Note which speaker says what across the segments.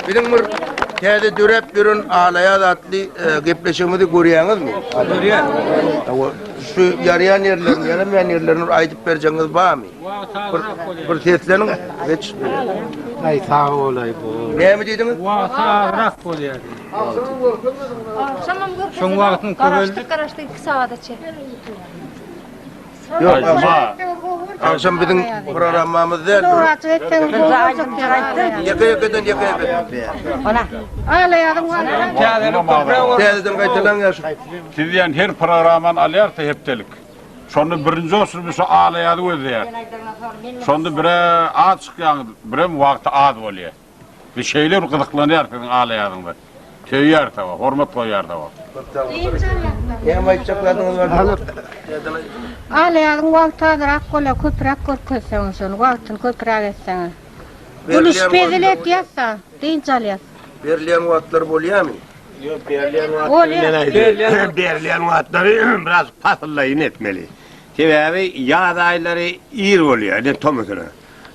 Speaker 1: Biziň bir täze döräp ýören Alaýaz atly e, gepleşigimizi görýäňizmi? Görýän.
Speaker 2: Hawa,
Speaker 1: şu ýaraýan ýerlerini, ýaramaýan ýerlerini bir aýdyp berjegiňiz barmy? Bir, bir sesleniň, geç. Ay
Speaker 2: sağ olay bu. Näme diýdiňiz? Wagty
Speaker 1: agrak
Speaker 2: bolýar. Şoň wagtyn köp Garaşdyk, garaşdyk 2 sagada
Speaker 3: çek.
Speaker 1: Ýok, agşam biziň programmamyz däl. Ýeke ýekeden ýeke ýeke. Ana. Alaýadyň wany. Täzeden gaýtalaň ýaşy. Siz diýen her
Speaker 4: programmany alýarsa hepdelik. Şonda birinji olsun biz şu alaýady gözleýär. Şonda bire az çykýaňyz, birem wagty az bolýar. Biz şeýle bir gyzyklanýarys siziň alaýadyňyza. Söýýäris hawa, hormat goýýarys hawa. Köp sag boluň. Birinji
Speaker 1: aýakdan. Hemem aýtjak zadyňyz bar. Alyp. Alaýadyň
Speaker 5: wagty azyrak bolýa, köpüräk görkezseňiz şony, wagtyny köpüräk etseňiz. Gülüşip hezil etýäs-de, dynç alýas. Berilýän
Speaker 1: wagtlary bolýamy? Ýok, berilýän
Speaker 6: wagtlary men aýdýan. Berilýän wagtlary biraz pasyllaýyn etmeli. Sebäbi ýaz aýlary ir bolýa, ine tomusuna.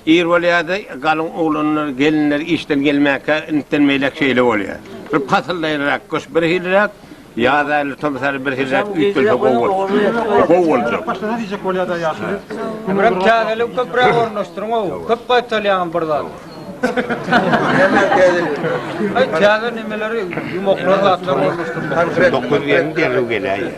Speaker 6: Ir bolýardy, galyň oglanlar, gelinler işden gelmäkä, intden beýläk şeýle bolýar. Bir pasyldaýynrak gyş birhiliräk, ýaz aýlary, tomus aýlary birhiliräk üýtgelse gowy bolar. Gowy boljak. Başlasa diýjek bolýar-da ýaşuly.
Speaker 2: Emrem täzeligi köpräk ornaşdyryň-ow. Köp gaýtalýaňam bir zady. Näme
Speaker 1: täzeligi? Täze
Speaker 2: nemeleri, ýumaklar, zatlar ornaşdyrmak. Dokuz gelin
Speaker 1: derrew
Speaker 6: geläýýär.